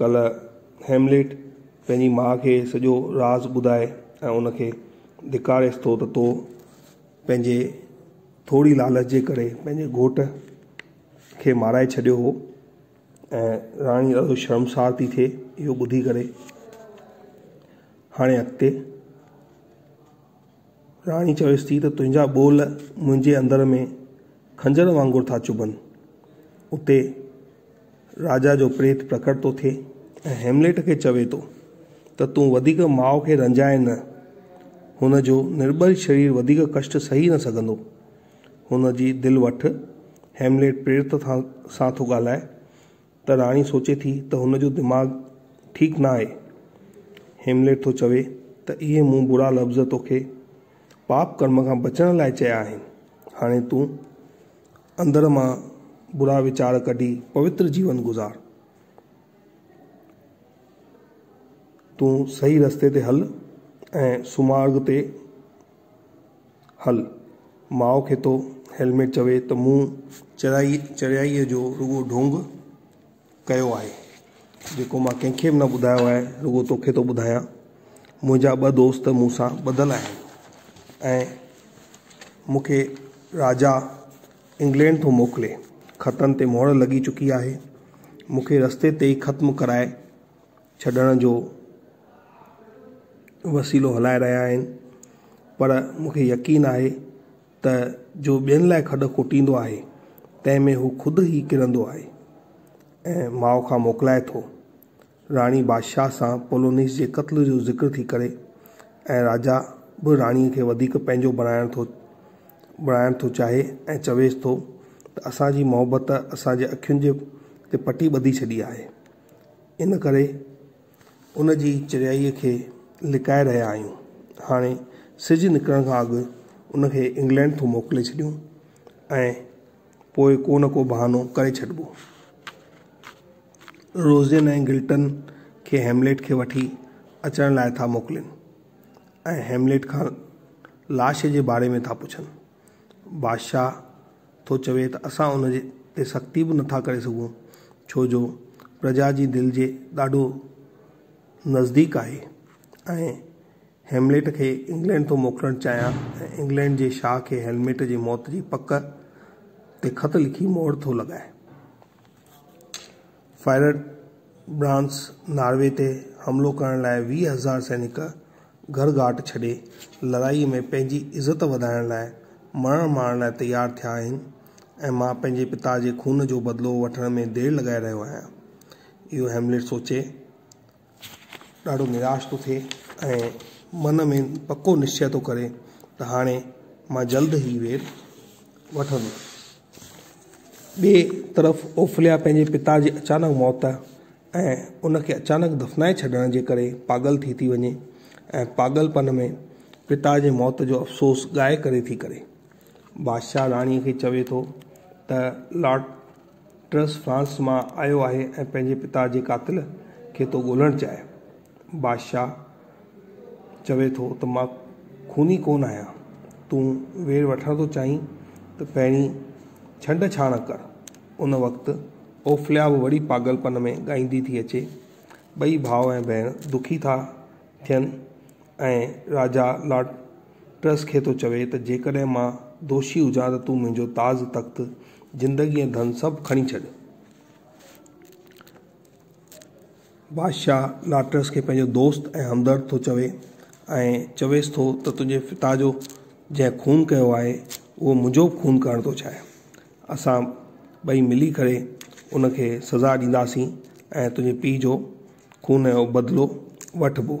ڪلهه هيملٽ پنهنجي ماء کي سڄو راز ٻڌائي ۽ ان کي ڌڪاريس ٿو ته تو پنهنجي ٿوري لالچ جي ڪري پنهنجي گهوٽ کي مارائي ڇڏيو هو ۽ راڻي ڏاڍو شرمسار ٿي ٿئي اهو ٻڌي ڪري هاڻي اڳتي راڻي چويس ٿي ته تنهنجا ٻول منهنجي اندر ۾ خنجر وانگر ٿا چڀن. اتي راجا جو پريت پرڪٽ ٿو ٿئي ۽ هيمليٽ کي چوي ٿو ته تون وڌيڪ ماء کي رنجائين نه. هن جو نرٻل شرير وڌيڪ ڪشٽ سهي نه سگهندو. هن جي دل وٺ. هيمليٽ پريت سان ٿو ڳالهائي ته راڻي سوچي ٿي ته هن جو دماغ ٺيڪ نه آهي. هيمليٽ ٿو چوي ته اهي مون برا لفظ توکي پاپ ڪرم کان بچڻ لاء چيا آهن. هاڻي تون اندر مان برا ويچار ڪڍي پوتر جيون گذار. تون صحيح رستي تي هل ۽ سمارگ تي هل، ماء کي ٿو هيلميٽ چوي ته مون چريائي چريائي جو رڳو ڍونگ ڪيو آهي، جيڪو مان ڪنهن کي به نه ٻڌايو آهي، رڳو توکي ٿو ٻڌايان. منهنجا ٻه دوست مون سان ٻڌل آهن ۽ مون کي راجا انگلينڊ ٿو موڪلي. خطن تي مهر لڳي چڪي آهي. مون کي رستي تي ئي ختم ڪرائي ڇڏڻ جو وسيلو هلائي رهيا آهن پر مونکي يقين آهي ته جو ٻين لاء کڏ کوٽيندو آهي تنهن ۾ هو خود ئي ڪرندو آهي ۽ ماء کان موڪلائي ٿو راڻي بادشاهه سان پولونيس جي قتل جو ذڪر ٿي ڪري ۽ راجا به راڻي کي وڌيڪ پنهنجو بڻائڻ ٿو بڻائڻ ٿو چاهي ۽ چويس ٿو ته اسان جي محبت اسان جي اکين جي تي پٽي ٻڌي ڇڏي آهي ان ڪري ان جي چريائيء کي لڪائي رهيا آهيون. هاڻي سج نڪرڻ کان اڳ ان کي انگلينڊ ٿو موڪلي ڇڏيون ۽ پوء ڪو نه ڪو بهانو ڪري ڇڏبو. روزين ۽ گلٽن کي هيمليٽ کي وٺي اچڻ لاء ٿا موڪلين ۽ هيمليٽ کان لاش جي باري ۾ ٿا پڇن. بادشاهه ٿو چوي ته اسان ان تي سختي به نٿا ڪري سگهون، ڇو جو پرجا جي دل جي ڏاڍو نزديڪ آهي ۽ هيملٽ کي انگلينڊ ٿو موڪلڻ چاهيان ۽ انگلينڊ جي شاهه کي هيملٽ جي موت جي پڪ تي خط لکي مهر ٿو لڳائي. فائربرانڊس ناروي تي حملو ڪرڻ لاء ويهه هزار سينڪ گهر گهاٽ ڇڏي لڙائي ۾ پنهنجي عزت وڌائڻ لاء مرڻ مارڻ لاء تيار ٿيا آهن ۽ مان پنهنجي پتا جي خون جو بدلو وٺڻ ۾ دير لڳائي رهيو آهيان اهو هيملٽ سوچي ڏاڍو نراش ٿو ٿئي ۽ من ۾ پڪو نشچئه ٿو ڪري ته هاڻي مان جلد هي وير وٺندس. ٻئي طرف اوفليا پنهنجي پتا جي اچانڪ موت ۽ ان کي اچانڪ دفنائي ڇڏڻ جي ڪري پاڳل ٿي ٿي وڃي ۽ پاڳل پن ۾ پتا جي موت جو افسوس ڳائي ڪري ٿي ڪري. بادشاهه راڻي کي چوي ٿو ته لاٽ ٽرس فرانس مان آيو آهي ۽ پنهنجي پتا جي قاتل کي ٿو ڳولهڻ چاهي. بادشاهه چوي ٿو ته مان خوني ڪونه آهيان. تون وير وٺڻ ٿو چاهين ته پهرين ڇنڊ ڇاڻ ڪر. ان وقت اوفليا به وڙي پاڳل پن ۾ ڳائيندي ٿي اچي. ٻئي ڀاء ۽ ڀيڻ دکي ٿا ٿين ۽ راجا لارڊ پرس کي ٿو چوي ته جيڪڏهن مان دوشي هجان ته تون منهنجو تاج تخت، زندگي ۽ ڌن سڀ کڻي ڇڏ. بادشاهه ناٽرس کي پنهنجو دوست ۽ همدرد ٿو چوي ۽ چويس ٿو ته تنهنجي پتا جو جنهن خون ڪيو آهي اهو منهنجو به خون ڪرڻ ٿو چاهي. اسان ٻئي ملي ڪري ان کي سزا ڏينداسين ۽ تنهنجي پيء جو خون جو بدلو وٺبو.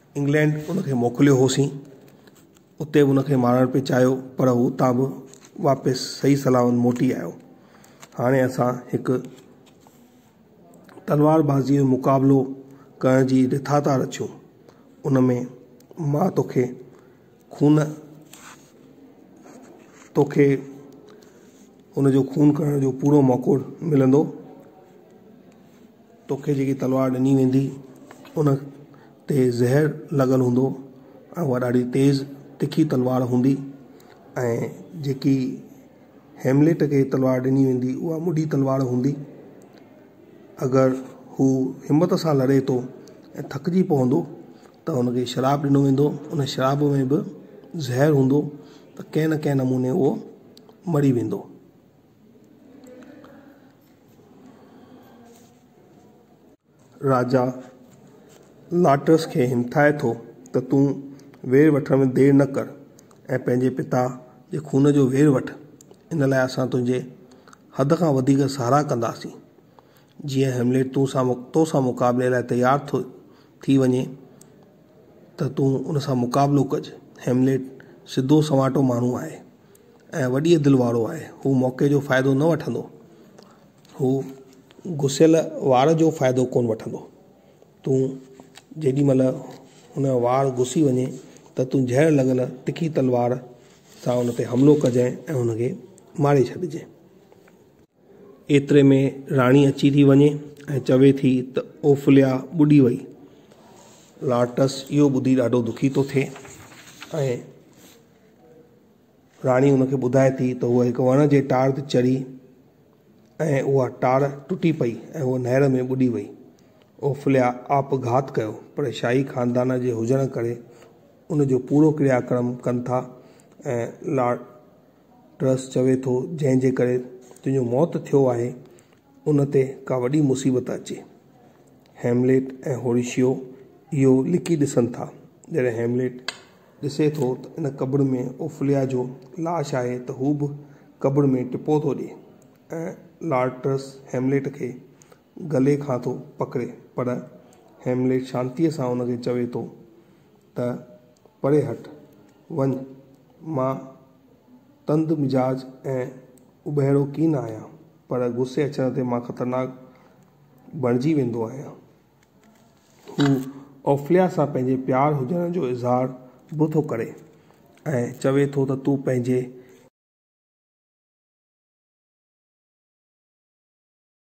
انگلينڊ ان کي موڪليو هوسين. اتي به ان کي مارڻ پئي چاهيو پر هو اتان به واپس صحيح سلامت موٽي آيو. هاڻي اسان هڪ تلوار بازيء جو مقابلو ڪرڻ جي رٿا ٿا رچون. ان ۾ مان توکي خون توکي ان جو خون ڪرڻ جو پورو موقعو ملندو. توکي جيڪي تلوار ڏني ويندي، ان تي زهر لڳل هوندو ۽ اها ڏاڍي تيز تکي تلوار هوندي ۽ جيڪي هيملٽ کي تلوار ڏني ويندي، اها مڊي تلوار هوندي. اگر هو همت سان لڙي ٿو ۽ ٿڪجي پوندو ته هن کي شراب ڏنو ويندو، ان شراب ۾ به زهر هوندو ته ڪنهن نه ڪنهن نموني اهو مري ويندو. راجا لاٽرس کي همٿائي ٿو ته تون وير وٺڻ ۾ دير نه ڪر ۽ پنهنجي پتا جي خون جو وير وٺ. ان لاء اسان تنهنجي حد کان وڌيڪ ساراهه ڪنداسين. جيئن هيملٽ تون سان تو سان مقابلي لاء تيار ٿو ٿي وڃي. ته تون ان سان مقابلو ڪج. هيملٽ سڌو سنواٽو ماڻهو آهي ۽ وڏيء دل وارو آهي. هو موقعي جو فائدو نه وٺندو. هو گسيل وار جو فائدو ڪونه وٺندو. تون جيڏي مهل هن جو وار گسي وڃي ته تون زهر لڳل تکي تلوار سان ان تي حملو ڪجانء ۽ هن کي ماري ڇڏجانء. ايتري ۾ راڻي اچي ٿي وڃي ۽ چوي ٿي ته اوڦليا ٻڏي وئي. لارٽس اهو ٻڌي ڏاڍو دکي ٿو ٿئي ۽ راڻي ان کي ٻڌائي ٿي ته هوء هڪ وڻ جي ٽار تي چڙهي ۽ اها ٽار ٽٽي پئي ۽ هوء نهر ۾ ٻڏي وئي. اوڦليا آپگهات ڪيو پر شاهي خاندان جي هجڻ ڪري ان جو پورو ڪريا ڪرم ڪن ٿا ۽ لا. ٽرس چوي ٿو جنهن جي ڪري تنهنجو موت ٿيو آهي ان تي ڪا وڏي مصيبت اچي. هيمليٽ ۽ هوريشيو اهو لڪي ڏسن ٿا. جڏهن هيمليٽ ڏسي ٿو ته ان قبر ۾ اوفليا جو لاش آهي ته هو به قبر ۾ ٽپو ٿو ڏي ۽ لارڊ ٽرس هيمليٽ کي گلي کان ٿو پڪڙي پر هيمليٽ شانتيء سان هن کي چوي ٿو ته پري هٽ، وڃ، مان تند مزاج ۽ اٻهيڙو ڪين آهيان پر غصي اچڻ تي مان خطرناڪ بڻجي ويندو آهيان. هو اوفليا سان پنهنجي پيار هجڻ جو اظهار به ٿو ڪري ۽ چوي ٿو ته تون پنهنجي.